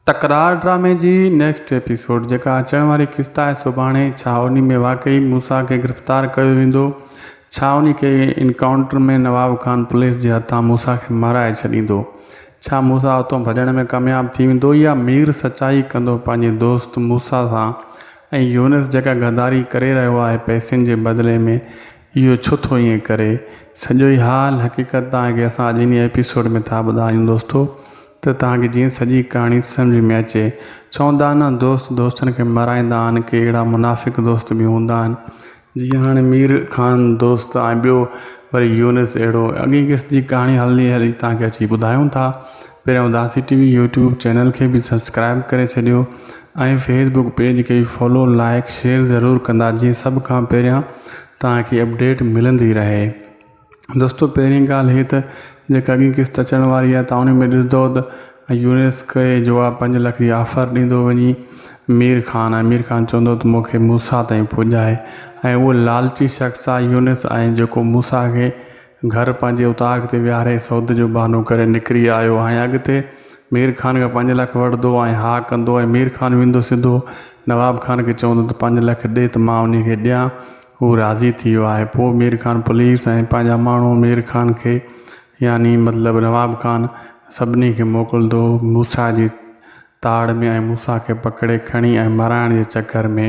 تڪرار ڊرامي جي نيڪسٽ ايپيسوڊ جيڪا اچڻ واري قسط آهي سڀاڻي ڇا انهي ۾ واقعي موسيٰ کي گرفتار ڪيو ويندو ڇا انهي کي انڪائونٽر ۾ نواب خان پوليس جي هٿان موسيٰ کي مارائي ڇڏيندو ڇا موسيٰ اتو ڀڄڻ ۾ ڪامياب ٿي ويندو يا مير سچائي ڪندو پنهنجي دوست موسيٰ سان ۽ يونس جيڪا غداري ڪري رهيو آهي پئسن جي بدلي ۾ اهو ڇو ٿو ائين ڪري. سڄو ئي حال حقيقت توهان کي اسان اڄ انهي ايپيسوڊ ۾ ٿا ٻڌايون دوستو ته توهان کي جيئن سڄي ڪهاڻي سمجهه ۾ اچي. چوندا آهن نه دوست دوستن کي مارائيندا آهن ڪي اهڙا منافق دوست به هوندا آهن. جيئن هاڻي مير خان دوست ۽ ٻيو وري يونس اهڙو اڳئين قسط جي ڪهاڻي هلي هلي توهان کي اچي ٻڌايون ٿا. پهريان Udasi T V YouTube channel کي به سبسڪرائب ڪري ڇڏيو ۽ فيس بڪ پيج کي به فالو لائيڪ شيئر ضرور ڪندا جيئن سڀ کان پهريان توهانکي اپڊيٽ ملندي رهي دوستو پهرين ڳالهه هي ته جيڪا اڳين قسط اچڻ واري آهي توهان ان ۾ ڏسندو ته يونيس کي جو آهي پنج لک جي آفر ڏيندو وڃي مير خان ۽ مير خان چوندو ته مونکي موسا تائين پڄائي ۽ اهو لالچي شخص آهي يونيس ۽ جيڪو موسا کي گهر پنهنجي اتاق تي ويهاري سودا جو بهانو ڪري نڪري آيو ۽ اڳتي مير خان کان پنج لک وٺندو ۽ ها ڪندو ۽ مير خان ويندو سڌو نواب خان کي چوندو ته پنج لک ڏي ته مان انهي کي ڏيان هو راضي ٿي ويو آهي پوء مير خان پوليس ۽ پنهنجا ماڻهو مير خان کي يعني مطلب نواب خان سڀني کي موڪلندو موسيٰ جي تاڙ ۾ ۽ موسيٰ کي پڪڙي کڻي ۽ مرائڻ جي چڪر ۾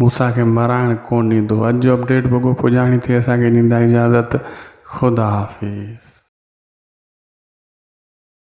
موسيٰ کي مرائڻ ڪونه ڏيندو. اڄ جو اپڊيٽ بگو پڄاڻي ٿي اسان کي ڏيندا اجازت خدا حافظ.